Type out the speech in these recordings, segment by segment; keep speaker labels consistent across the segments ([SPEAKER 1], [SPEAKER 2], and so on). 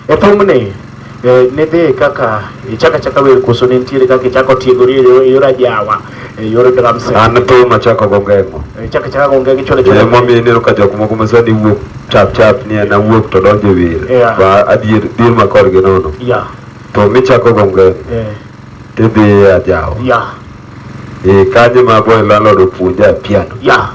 [SPEAKER 1] E thumni e, nidhi kaka ichaka chaka wer koso ne nitiere kaka ichako tiegori e yor ajawa e yor drum set. An thum achako go
[SPEAKER 2] ngemo. E, ichaka chaka go ngemo
[SPEAKER 1] chole chole. Ema miyo ineno ka jok
[SPEAKER 2] moko ma sani wuok chap chap ni en awuok to donjo e wer. Ba adier dir ma korgi nono. Yeah. To michako go ngemo. Yeah. Tidhi e ajawa. Yeah. Eh, kanye ma boy landlord opuonja piano. Yeah.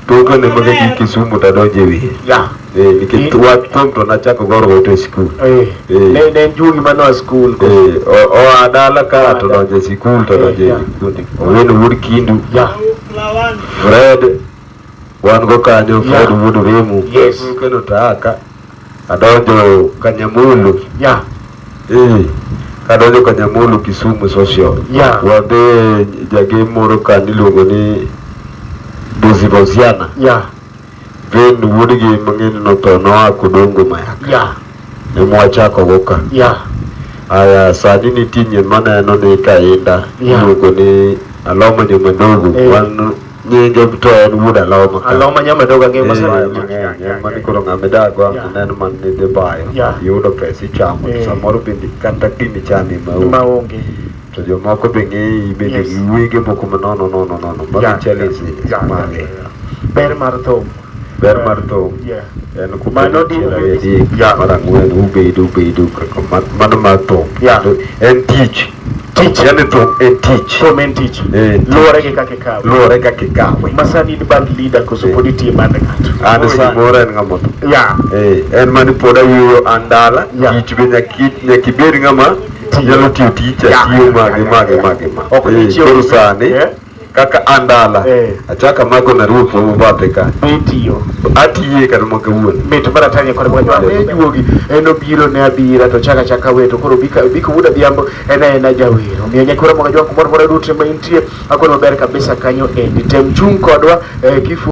[SPEAKER 2] Toke ne mage gi Kisumu ta donje wiye. Yeah. Eh, nikech wa tom to nachako goro wote school. Eh. Eh. Ne ne
[SPEAKER 1] June mano a school. ko. Eh, o o adala
[SPEAKER 2] ka to donje school to donje Yeah. kundi. Owen wood kindu. Yeah. Fred Wan go kanyo yeah. Fred Wuod Remu. Yes. Keno taka. Adonjo Kanyamulu. Yeah. Eh. Kadonjo Kanyamulu Kisumu Social. Yeah. Wadhi jagem moro ka niluongo ni Bozi Boziana. Yeah. Then wuod gi mang'eny no to noa Kodongo Mayaka. Yeah. Ne mwachako go ka. Yeah. Aya sani nitie nyien maneno ni kainda. Yeah. Iluongo ni Aloma Nyomandogo. Yeah. Wan nyinge to en wuod aloma aloma nyamedoga ng'e
[SPEAKER 1] masayo eh, mani koro
[SPEAKER 2] ng'ame dagwa aneno man ni dhi bayo yudo pesa ichamo eh. samoro bende kata gini chami maonge
[SPEAKER 1] to jomoko
[SPEAKER 2] be ng'eyi bende gi wege moko ma nono nono nono magi challenge mage ber mar
[SPEAKER 1] thum ber mar
[SPEAKER 2] thum en kumano mar ang'wen ubedo ubedo mano mar thum en tich tich yani to e tich to men tich eh, luore
[SPEAKER 1] gi kake kawe luore kake kawe masani in band leader koso eh. pod itie band ng'ato an ah, sa mora en ng'ama
[SPEAKER 2] to ya eh en mani pod ayuyo andala tich be nyaki nyaki bed ng'ama nyalo tiyo tich atiyo mage mage mage ma ok eh, ichiwo sani eh. kaka andala Eh. achako amako na ruoth mamo bathe ka be itiyo atiye kata maka wuon mit mar atanya kod mwanyo
[SPEAKER 1] ane juogi en obiro ne abira to chaka chaka we to koro bika biko wuda dhiambo en en ajawero miyo nyakora mwaga jwangu moro moro duto ma intie akono ber kabisa kanyo endi tem chung kodwa eh, kifu